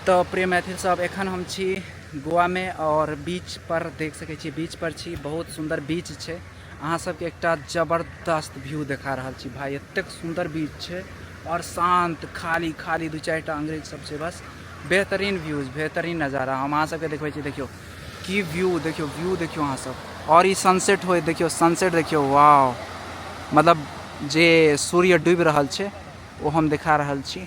तो प्रिय मैथिल सब एखन हम छी गोवा में और बीच पर देख सके छी बीच पर छी बहुत सुंदर बीच है अहाँ सबके एक जबरदस्त व्यू देखा रहा छी भाई एत सुंदर बीच है और शांत खाली खाली दू चार अंग्रेज सब से बस बेहतरीन व्यूज बेहतरीन नज़ारा हम अहाँ सबके देखबै छी देखियो की व्यू देखियो व्यू देखियो अहाँ सब और ई सनसेट हो देखियो सनसेट देखियो वाह मतलब जे सूर्य डूबि रहल छै ओ हम देखा रहल छी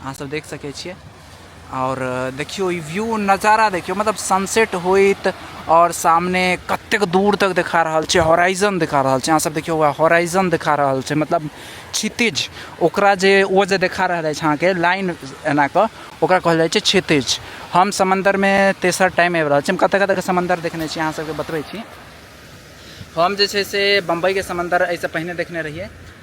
अहाँ सब देख सके छे और देखियो व्यू नज़ारा देखियो मतलब सनसेट होत और सामने कत दूर तक दिखा रहा है हॉराइजन दिखा रहा है सब देखियो हॉराइजन दिखा रहा है मतलब क्षितिज ओकरा जे वो जे दिखा रहा है अहाँ के लाइन एना के ओकरा कहल जाए क्षितिज हम समंदर में तेसर टाइम आबि रहल छी हम कत कत के समंदर देखने छी अहाँ सबके बतबै छी हम जे छै से बम्बईके समंदर एहिसँ पहिने देखने रहिए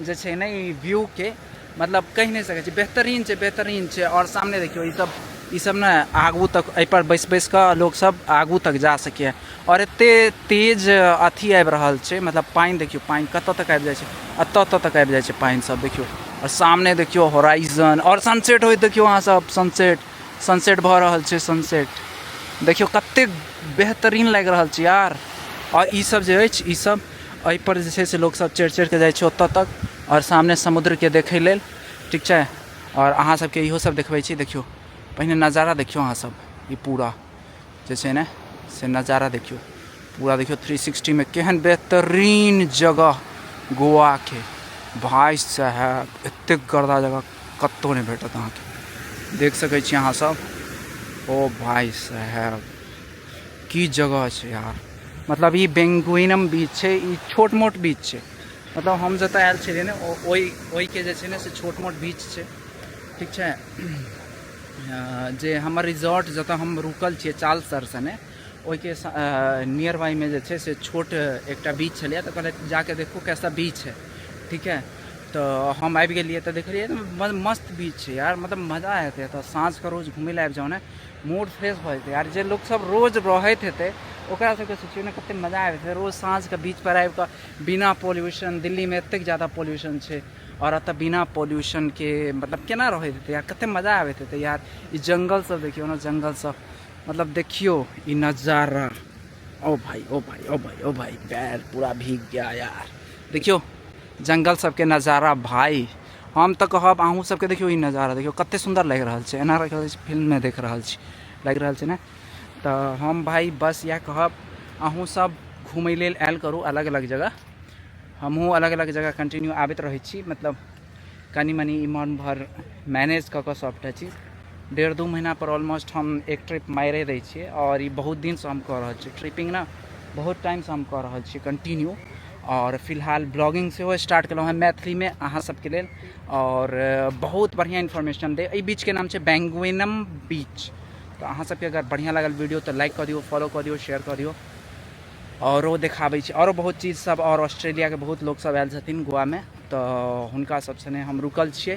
जे छै ने ई व्यू के मतलब कहि नहि सकै छी बेहतरीन छै बेहतरीन छै और सामने देखियो ई सब ई सब ने आगू तक एहि पर बैस बैस के लोग सब आगू तक जा सकैए और एते तेज अथी आबि रहल छै मतलब पानि देखियो पानि कतऽ तक आबि जाइ छै एतऽ एतऽ तक आबि जाइ छै पानि सब देखियो और सामने देखियो होराइजन और सनसेट होइत देखियो अहाँ सब सनसेट सनसेट भऽ रहल छै सनसेट देखियो कते बेहतरीन लागि रहल छै यार और ई सब जे अछि ई सब एहि पर जे छै से लोक सब चढ़ि चढ़ि कऽ जाइ छै ओतऽ तक आओर सामने समुद्र के देखै लेल ठीक छै आओर अहाँ सबके इहो सब देखबै छी देखियौ पहिने नजारा देखियौ अहाँ सब ई पूरा जे छै ने से नजारा देखियौ पूरा देखियौ थ्री सिक्सटी मे केहन बेहतरीन जगह गोवा के भाई साहब एते गर्दा जगह कतौ नहि भेटत अहाँके देख सकै छी अहाँ सब ओ भाई साहब की जगह छै यार मतलब ई बेंगुइनम बीच छै ई छोट मोट बीच छै मतलब हम जतऽ आयल छलियै ने ओहि ओहिके जे छै ने से छोट मोट बीच छै ठीक छै जे हमर रिजॉर्ट जतऽ हम रुकल छियै चाल सर सने ओहिके नियर बाइमे जे छै से छोट एकटा बीच छलैए तऽ कहलथि जाके देखू कैसा बीच है ठीक है तो हम आबि गेलियै तऽ देखलियै मस्त बीच छै यार मतलब मजा एतै एतऽ साँझके रोज घुमै लए आबि जाउ ने मूड फ्रेश भऽ जेतै आर जे लोकसभ रोज रहैत हेतै ओकरा सबके सोचियौ ने कतेक मजा आबैत हेतै रोज साँझके बीचपर आबि कऽ बिना पॉल्यूशन दिल्लीमे एतेक जादा पॉल्यूशन छै आओर एतऽ बिना पॉल्यूशनके मतलब केना रहैत हेतै यार कतेक मजा आबैत हेतै यार ई जंगल सब देखियौ ने जंगल सब मतलब देखियौ ई नजारा ओ भाई ओ भाई ओ भाई ओ भाई पैर पूरा भीग गया यार देखियौ जंगल सबके नजारा भाई हम तऽ कहब अहूँ सबके देखियौ ई नजारा देखियौ कते सुन्दर लागि रहल छै एना लागि रहल छै फिल्ममे देख रहल छी लागि रहल छै ने तऽ हम भाई बस इएह कहब अहूँ सब घूमय लेल आयल करू अलग अलग जगह हमहूँ अलग अलग जगह कंटिन्यू आबैत रहै छी मतलब कनि मनि इमहर उमहर मैनेज कऽ कऽ सबटा चीज डेढ़ दू महीना पर ऑलमोस्ट हम एक ट्रिप मारे दै छियै आओर ई बहुत दिनसँ हम कऽ रहल छी ट्रिपिंग ने बहुत टाइमसँ हम कऽ रहल छी कंटिन्यू आओर फिलहाल ब्लॉगिंग सेहो स्टार्ट केलहुँ हँ मैथिलीमे अहाँ सबके लेल आओर बहुत बढ़िआँ इन्फॉर्मेशन दे एहि बीचके नाम छै बैंगुइनम बीच तऽ अहाँ सबके अगर बढ़िआँ लागल वीडियो तऽ लाइक कऽ दियौ फॉलो कऽ दियौ शेयर कऽ दियौ आओरो देखाबै छी आओरो बहुत चीज सब आओर ऑस्ट्रेलियाके बहुत लोक सब आयल छथिन गोवामे तऽ हुनका सबसँ हम रुकल छियै